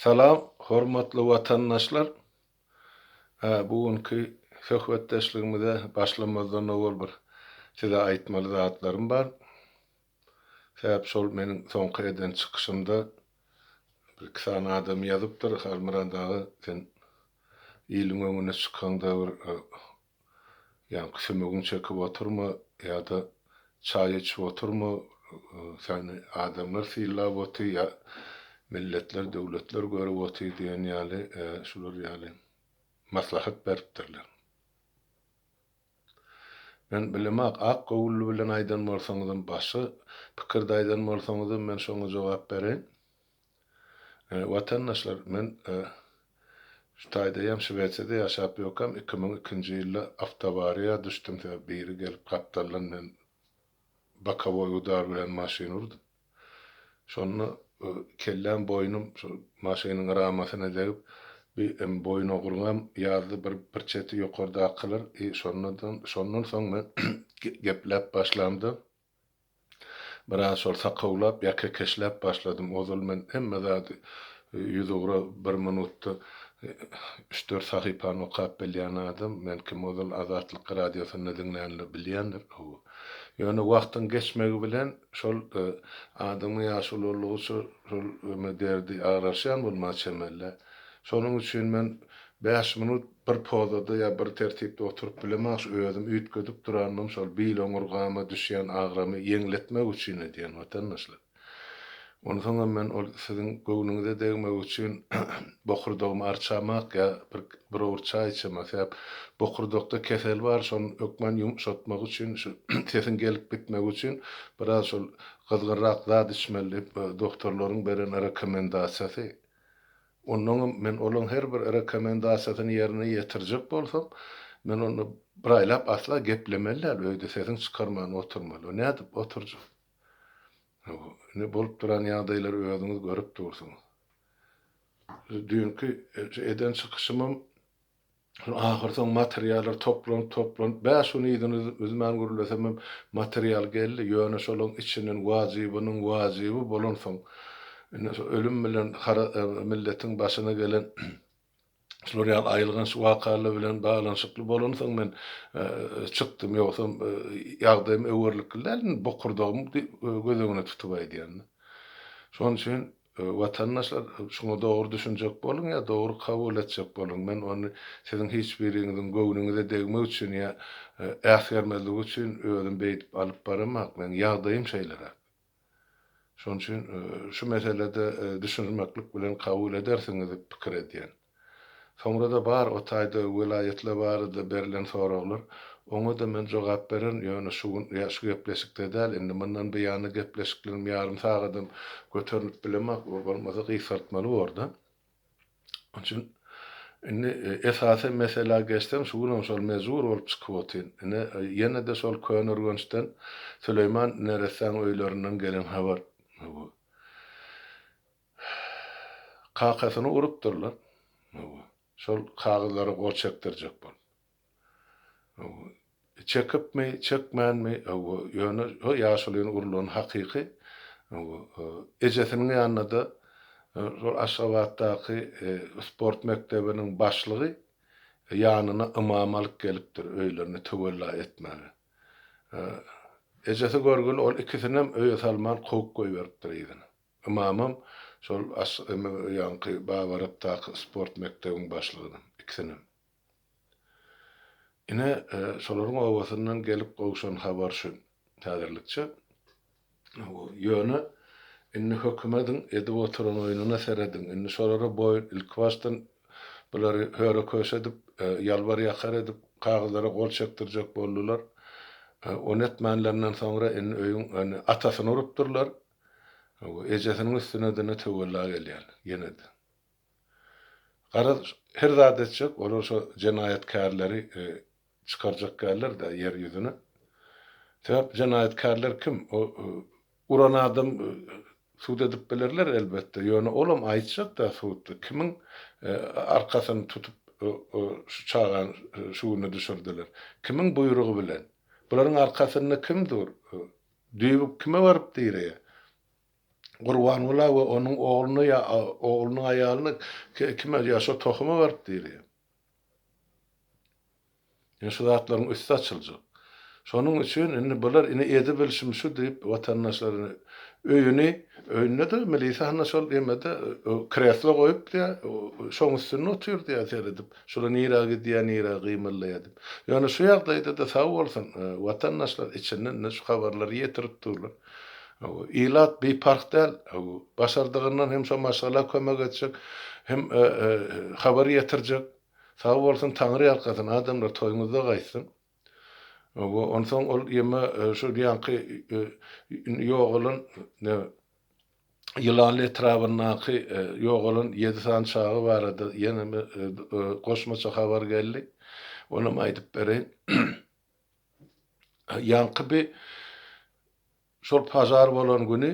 Salam, hormatly watandaşlar! Bu günki söhbetdeşligimize başlamazdan owal bir size aýtmaly zatlarym bar. Sebäp şol meniň soňky eden çykyşymda bir-iki sany adam ýazypdyr, Halmyrat aga, sen iliň öňüne çykaňda bir Ýaňky sümegiňi çekip oturma ýa-da çaý içip oturma, seni adamlar sylap otyr ýa milletler, döwletler görüp otyr diýen ýaly şular ýaly maslahat beripdirler. Men bilemok, ak göwünli bilen aýdan bolsaňyzam, başga pikirde aýdan bolsaňyzam men şoňa jogap bereýin. Watandaşlar men şu taýdaýam Şwesiýada ýaşap ýokam iki müň ikinji ýylda awtoawariýa düşdüm sebäp biri gelip gapdaldan men bokowoý udar bilen maşyn urdum şonda kelläm boýnum şol maşynyň ramasyna degip bir em boýun ogurgam ýazdy bir bir çeti ýokardakylar i şonda şondan soň men gepläp başlamda Biraz şol sakawlap ýa kekeşläp başladym. Ozal men hemme zady ýüzugra bir minutda üç-dört sahypany okap bilýän adam. Men kim ozal Azatlyk radiosynda diňlänler bilýändir owo. Ýöne wagtyň geçmegi bilen şol adamyň ýaşy ulaldygyça şol derdi agraşýan bolmaga çemeli. Şonuň üçin men bäş minut Bir pozada ýa bir tertipde oturyp bilemagş özüm üýtgedip durandym şol bil oňurgama düşýän agramy ýeňletmek üçin edýän watandaşlar. Onsoňam men ol siziň göwnüňize degmek üçin bokurdagymy arçamak ýa bir bir owurt çaý içemak sebäp bokurdakda kesel bar şony hökman ýumşatmak üçin şu sesiň gelip gitmegi üçin biraz şol gyzgynrak zat içmeli diýip doktorlaryň beren rekomendasiýasy Onnoňam men olaň her bir rekomendasiýasyny ýerine ýetirjek bolsam, men onda bir aýlap asla geplemeli däl, öýde sesiň çykarman oturmaly. O nädip oturjak? Indi bolup duran ýagdaýlary özüňiz görüp dursuňyz. Düýnki eden çykyşymam Şol ahyrsoňy materiallar toplanyp-toplanyp, bäş gün yzyny üzmän gürlesemem, material geldi, ýöne şolaň içinden wajybynyň wajyby bolansoň, indi şu ölüm bilen milletiň başyna gelen şular ýaly aýylganç wakalar bilen baglanyşykly bolansoň men çykdym, ýogsam ýagdaýym öwerlikli däl, indi bokurdagym göz öňüne tutup aýdýan-da. Şonuň üçin Watandaşlar, şuňa dogry düşünjek boluň ýa dogry kabul etjek boluň. Men ony siziň hiç biriňiziň göwnüňize degmek üçin ýa äsgermezlik üçin özüm beýdip alyp baramak. Meniň ýagdaýym şeýleräk. Şonuň üçin şu meselede düşünmeklik bilen kabul edersiňiz diýip pikir edýän. Soňra-da bar o taýda welaýatlar barada berlen soraglar. Oňa-da men jogap bererin, ýöne şu gün, ýa şu gepleşikde däl, indi mundan buýana gepleşiklerim ýarym sagadam göterilip bilemok, o bolmasa gysgaltmaly bor-da. Onuň üçin indi esasy meselä geçsem, şu günem şol mejbur bolup çykyp otyryn. Ine, ýene-de şol Köneürgençden, Süleýman neressäň öýlerinden gelen habar bu. Kakasyny urupdyrlar. Hawa. Şol kagyzlara gol çekdirjek bolup. Hawa. Çekipmi, çekmänmi, hawa, ýöne o ýaşulyny urulany hakyky. Hawa. Ejesiniň ýanynada şol Aşgabatdaky sport mekdebiniň başlygy ýanyna ymam alyp gelipdir öýlerine töwella etmäge. Ejesi görgüli ol ikisinem öýe salman kowup goýberipdir yzyna. Ymamam, şol aşymy ýaňky Babarapdaky sport mekdebiň başlygynam. Ikisinem. Ine, şolaryň obasyndan gelip gowşan habar şu, häzirlikçe. Ýöne, indi höküm ediň, edip oturan oýnuna serediň. Indi şolara boýun, ilkibaşdan bulary höre-köşe edip, ýalbar-ýakar edip, kagyzlara gol çekdirjek boldular. Ony etmänlerinden soňra, indi öýüň atasyny urupdyrlar. Ejesiniň üstüne dine töwella gelýän, ýene-de. Garaz, her zat etjek, olar şo jenaýatkärleri çykarjak däller-dä ýer ýüzüne. Sebäp jenaýatkärler kim? O uran adam sud edip bilerler, elbetde, ýöne olam aýtjak-da sudda, kimiň arkasyny tutup şu çagany şu güne düşürdiler, kimiň buýrugy bilen? Bularyň arkasynda kim dur? Düýbük kime baryp direýär? Gurbangula we onuň ogluna ýa oglunyň aýalyna kime ýa şo tohuma baryp direýär? Ine şu zatlaryň üsti açyljak. Şonuň üçin indi bular ine edibilşim şu diýip watandaşlaryny öýüni öýünde-de milisiýa hany şol emede kreslo goýupdy ýa şoň üstünde otyrdy ýa seredip Şular nirä gidýär, nirä gymyldaýar diýip. Ýöne şu ýagdaýda-da sag bolsun, watandaşlar içinden-de şu habarlary ýetirip durlar. Ilat biparh däl. Başardygyndan hem şo maşgala kömek etjek, hem habar ýetirjek. Sag bolsun, Taňry ýalkasyn, adamlar toýuňyzda gaýtsyn. Onsoň ol ýeme şol ýaňky ýogalan Ýylanly etrabyndaky ýogalan ýedi sany çaga barada ýene goşmaça habar geldi. Onam aýdyp bereýin. Ýaňky bi şol pažar bolan güni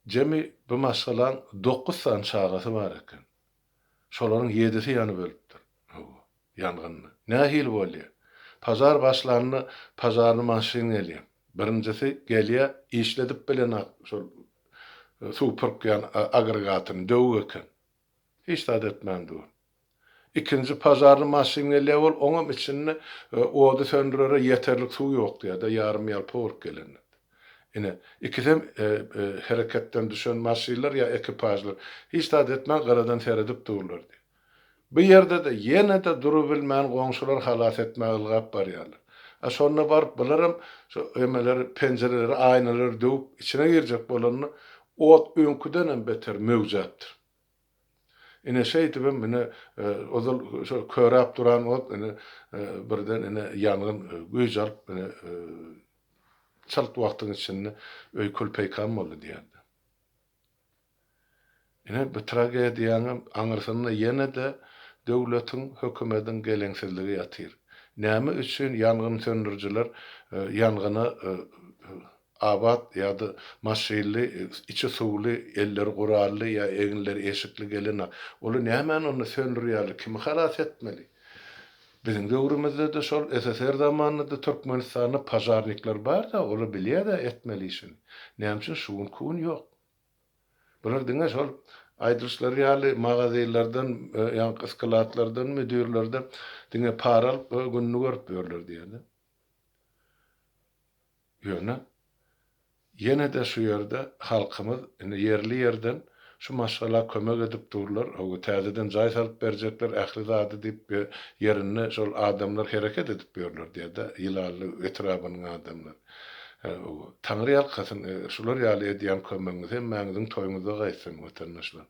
jemi bi maşgalaň dokuz sany çagasy bar eken. Şolaryň ýedisi ýanyp ölüpdir. Hawa, ýangynda. Nähili bolýar? Pažar başlanda pažarny maşyn gelýär. Birinjisi gelýär, işledip bilenok şol suw pürkýän agregatuny, döwük eken. Hiç zat etmän dur. Ikinji pažarny maşyn gelýär, ol oňam içinde ody söndürere ýeterlik suw ýokdy ýa-da ýarym-ýalpa bolup gelendir. Ine, ikisem hereketden düşen maşynlar ýa ekipažlar. Hiç zat etmän gyradan seredip durlardy. Bu ýerde-de ýene-de durubilmän goňşular halas etmäge ylgap barýarlar. A şonda baryp bularam şu emeleri, penjireleri, aýnalary döwüp içine girjek bolanda ot öňküdenem beter möwjäpdir. Ine şeýdibem ine ozal şo köräp duran ot ine birden ine ýangyn güýç alyp ine Çalt wagtyň içinde öý kül-peýkam boldy diýerdi. Ine, bu tragediýanyň aňyrsynda ýene-de döwletiň, hökümediň geleňsizligi ýatyr. Näme üçin ýangyn söndürijiler ýangyna abat ýa-da maşynly, içi suwly, elleri gurally ýa eginleri eşikli gelen, olar nämäni onda söndürýärler, kimi halas etmeli? Biziň döwrümizde-de şol SSR zamanynda-da Türkmenistanda pažarnikler bar-da, olar bilýär-de etmeli işini. Näme üçin şu gün ku gün ýok? Bular diňe şol aýdylyşlary ýaly magazylardan, ýaňky skladlardan, müdirlerden diňe para alyp gününi görüp ýörler diýýär-de. Ýöne ýene-de şu ýerde halkymyz indi ýerli ýerden şu maşgala kömek edip durlar, howa täzeden jaý salyp berjekler ähli zady diýip we ýerinde şol adamlar hereket edip ýörler diýerda Ýylally etrabynyň adamlary. Howa Taňry ýalkasyn şular ýaly edýän kömegiňiz hemmäňiziň toýuňyzda gaýtsyn watandaşlar.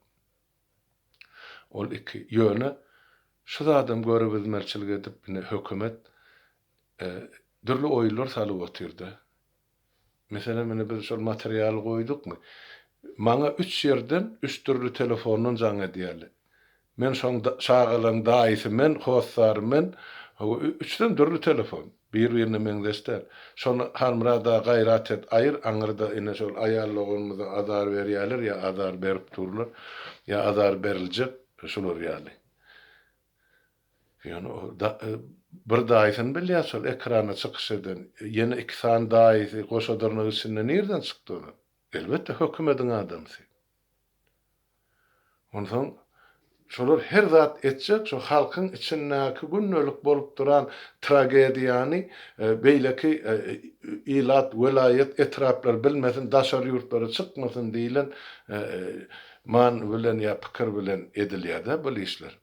Ol iki. Ýöne şu zadam görübizmerçilik edip ine hökümet dürli oýullar salyp otyrda. Meselem ine biz şol materialy goýdukmy. Maňa üç ýerden üç dürli telefondan jaň edýärler. Men şoň çagalaň daýysy men, hossary men, üçüsem dürli telefon. Bir-birine meňzeş däl. Şony Halmyrada gaýrat et, aýyr, aňyrda ine şol aýal doganymyza azar berýäler ýa azar berip durlar, ýa azar beriljek, şular ýaly. Ýöne o da bir daýysyny bilýäs şol ekrana çykyş eden. Ýene iki sany daýysy goşa dyrnak içinde nirden çykdy olar? Elbetde hökümediň adamsy. Onsoň şolar her zat etjek, şo halkyň içindäki gündelik bolup duran tragediýany beýleki ilat, welaýat, etraplar bilmesin, daşary ýurtlara çykmasyn diýlen many bilen ýa pikir bilen edilýär-dä bul işler.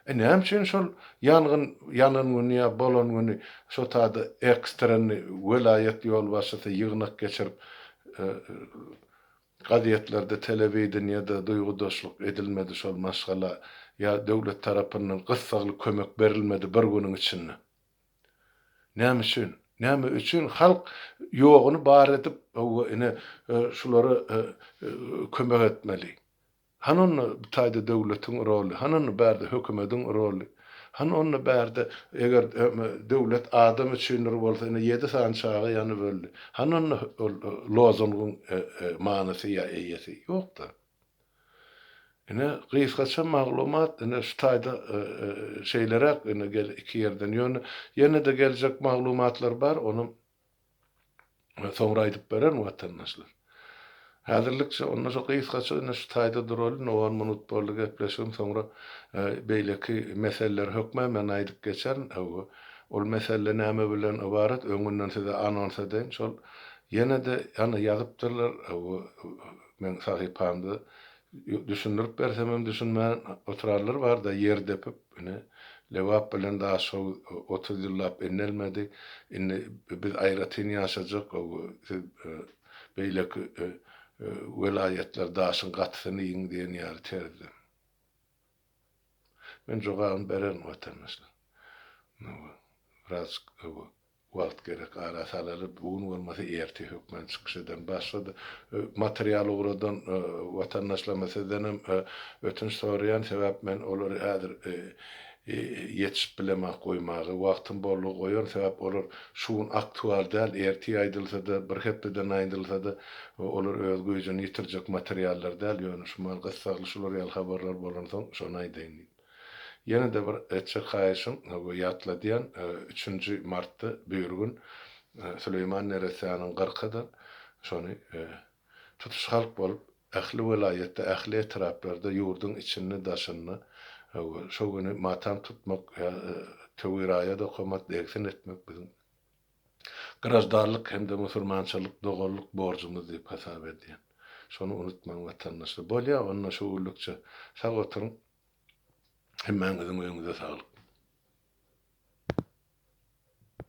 E näme üçin şol ýangyn ýanan güni ýa bolan güni şo taýda ekstrenni welaýat ýolbaşçysy ýygnak geçirip gazetlerde telewideniýede duýgudaşlyk edilmedi şol maşgala ýa döwlet tarapyndan gyssagly kömek berilmedi bir günüň içinde? Näme üçin? Näme üçin halk ýogyny bar edip howwa ine şulara kömek etmeli? Hany onda bu taýda döwletiň roly, hany onda bärde hökümediň roly, hany onda bärde eger döwlet adam üçindir bolsa ine ýedi sany çaga ýanyp öldi, hany onda ol lozungyň manysy ýa eýesi, ýokda. Ine gysgaça maglumat ine şu taýda şeýleräk ine gel iki ýerden ýöne ýene-de geljek maglumatlar bar onam Soňra aýdyp bererin watandaşlar. Häzirlikçe onda şo gysgaça indi şu taýda duraly indi on minut boldy gepleşigim soňra beýleki meseleler hökmän men aýdyp geçerin hawa ol mesele näme bilen ybarat öňünden size anons edeýin şol ýene-de ýazypdyrlar hawa meň sahypamda Düşündirip bersemem düşünmän oturarlar barda ýer depip, ine, Lebap bilen Daşoguz otuz ýyllap indelmedi, indi biz aýratyn ýaşajak, gowy, siz beýleki welaýatlar daşyň gatysyny iýiň diýen ýaly terzde. Men jogabyny bererin, watandaşlar. Biraz Wagt gerek ara salaly bu gün bolmasa erte hökman çykyş ederin. Başga da material ugradan watandaşlarymyz sizdenem ötünç soraýan sebäp men olary häzir ýetişip bilemen goýmaga wagtym boldugy goýaryn sebäp olar şu gün aktual däl ertir aýdylsada bir hepdeden aýdylsada olar öz güýjini ýitirjek materiallar däl ýöne şu mahaly gyssagly şular ýaly habarlar bolansoň şony aýdaýyn diýdim. Ýene-de bir çykaýşyň we ýatladýan, üçünji martda bir gün Süleýman neressäniň gyrka-da şony tutuş halk bolup, ähli welaýatda, ähli etraplarda, ýurduň içinde-daşynda şo güni matam tutmak ýa töwiraýat okamak, degsin etmek biziň. graždanlyk hem-de musurmançylyk doganlyk borjumyz diýip hasap edýän. Şony unutmaň watandaşlar. Bolýa onda şu günlükçe sag oturyň. Hemmäňiziň öýüňize saglyk.